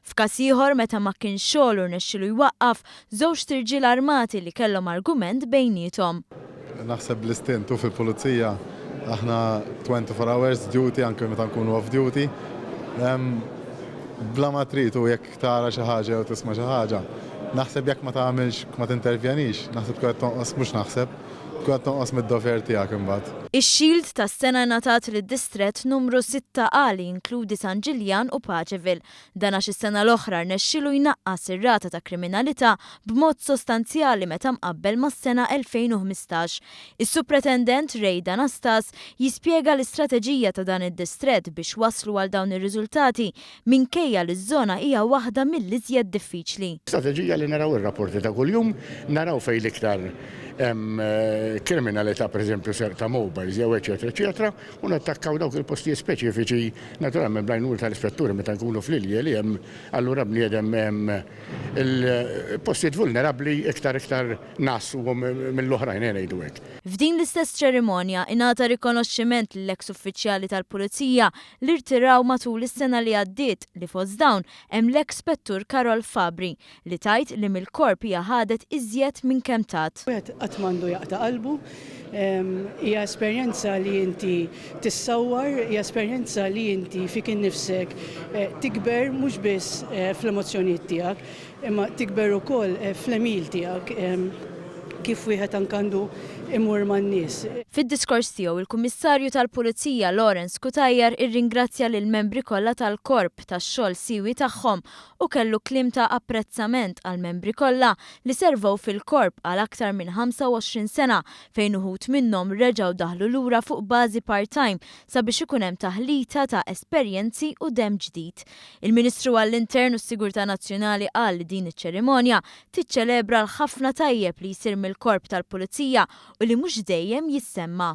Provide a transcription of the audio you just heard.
F'każ ieħor, meta ma kienx xogħlu rnexxielu jwaqqaf żewġt irġiel armati li kellhom argument bejniethom. Naħseb bl-istint u fil-pulizija aħna twenty four hours duty anke meta nkunu off duty. Bla ma trid u jekk tara xi ħaġa jew tisma' xi ħaġa, naħseb jekk ma tagħmilx, ma tintervjenix, naħseb tkun qed tonqos, mhux naħseb, tkun qed tonqos mid-dover tiegħek imbagħad. Ix-Shield tas-sena ngħatat lid-Distrett Numru Sitta A li jinkludi San Ġiljan u Pageville. Dan għax is-sena l-oħra rnexxielu jnaqqas ir-rata ta' kriminalità b'mod sostanzjali meta mqabbel mas-sena 2015. Is-Supretendent Ray D'Anastas jispjega l-istrateġija ta' dan id-distrett biex waslu għal dawn ir-riżultati minkejja li ż-żona hija waħda mill-iżjed diffiċli. Strateġija li naraw ir-rapporti ta' kuljum, naraw fejn l-iktar hemm kriminalità, pereżempju serq ta' mobiles jew eċċetera eċċetera, u nattakkaw dawk il-postijiet speċifiċi, naturalment bl-għajnuna tal-ispetturi meta nkunu fl-ilje li hemm allura bniedem il-postijiet vulnerabbli iktar iktar ngħassuhom mill-oħrajn ejja ngħidu hekk. F'din l-istess ċerimonja ingħata rikonoxximent lil eks uffiċjali tal-Pulizija li rtiraw matul is-sena li għaddiet li fost dawn hemm l-eks Spettur Karol Fabri li tgħid li mill-korp hija ħadet iżjed minn kemm tat. Wieħed qatt m'għandu jaqta' qalbu. Hija esperjenza li inti tissawwar, hija esperjenza li inti fik innifsek tikber mhux biss fl-emozzjonijiet tiegħek, imma tikber ukoll fl-għemil tiegħek kif wieħed anke għandu jmur man-nies. Fid-diskors tiegħu, il-Kummissarju tal-Pulizija Lawrence Cutajar irringrazzja lill-membri kollha tal-Korp tax-xogħol siewi tagħhom u kellu kliem ta' apprezzament għall-membri kollha li servew fil-Korp għal aktar minn 25 sena fejn uħud minnhom reġgħu daħlu lura fuq bażi part-time sabiex ikun hemm taħlita ta' esperjenzi u demm ġdid. Il-Ministru għall-Intern u s-Sigurtà Nazzjonali qal li din iċ-ċerimonja tiċċelebra l-ħafna tajjeb li jsir mill-Korp tal-Pulizija u li mhux dejjem jissemma.